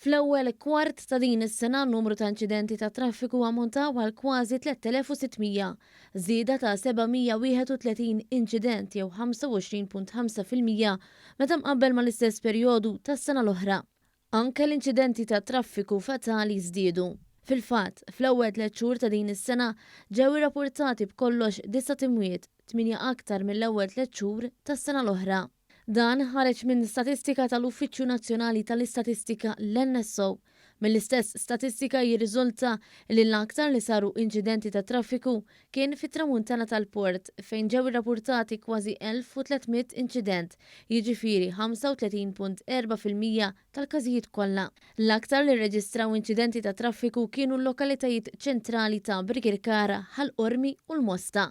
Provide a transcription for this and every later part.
Fl-ewwel kwart ta' din is-sena n-numru ta' inċidenti tat-traffiku ammontaw għal kważi 3,600, żieda ta' 731 inċident jew 25.5 fil-mija meta mqabbel mal-istess perjodu tas-sena l-oħra. Anke l-inċidenti tat-traffiku fatali żdiedu. Fil-fatt, fl-ewwel tliet xhur ta' din is-sena ġew irrapurtati b'kollox disat imwiet, tmienja aktar mill-ewwel tliet xhur tas-sena l-oħra. Dan ħareġ minn statistika tal-Uffiċċju Nazzjonali tal-Istatistika, l-NSO. Mill-istess statistika jirriżulta li l-aktar li saru inċidenti tat-traffiku kien fit-Tramuntana tal-port fejn ġew irrapurtati kważi 1,300 inċident, jiġifieri 35.4 fil-mija tal-każijiet kollha. L-aktar li rreġistraw inċidenti ta' traffiku kienu l-lokalitajiet ċentrali ta' Birkirkara, Ħal Qormi u l-Mosta.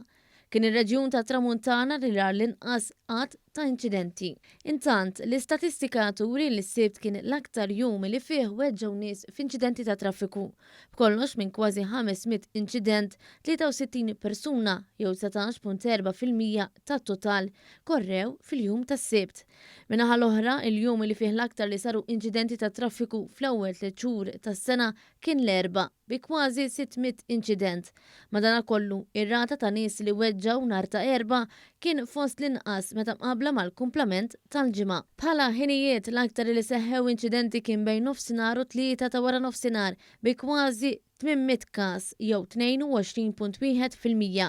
Kien ir-reġjun tat-Tramuntana li ra l-inqas għadd ta' inċidenti. Intant, l-istatistika turi li s-Sibt kien l-aktar jum li fih weġġgħu nies f'inċidenti ta' traffiku. B'kollox minn kważi 500 inċident, 63 persuna jew 19.4 fil-mija tat-total korrew fil-jum tas-Sibt. Min-naħa l-oħra, il-jum li fih l-aktar li saru inċidenti tat-traffiku fl-ewwel tliet xhur tas-sena kien l-Erbgħa bi kważi 600 inċident, Madanakollu, ir-rata ta' nies li weġġgħu nhar ta' Erbgħa kien fost l-inqas meta mqabbla mal-kumplament tal-ġimgħa. Bħala ħinijiet, l-aktar li seħħew inċidenti kien bejn nofsinhar u tlieta ta' wara nofsinhar bi kważi 800 każ jew 22.1 fil-mija,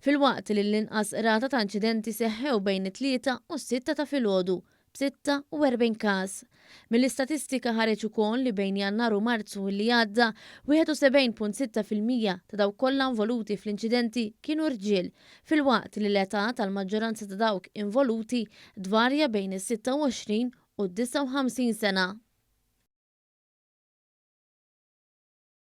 filwaqt li l-inqas rata ta' inċidenti seħħew bejn it-tlieta u s-sitta ta' filgħodu b'46 każ. Mill-istatistika ħareġ ukoll li bejn Jannar u Marzu li għadda, 71.6 fil-mija ta' dawk kollha involuti fl-inċidenti kienu rġiel, filwaqt li l-età tal-maġġoranza ta' dawk involuti tvarja bejn is-26 u d-59 sena.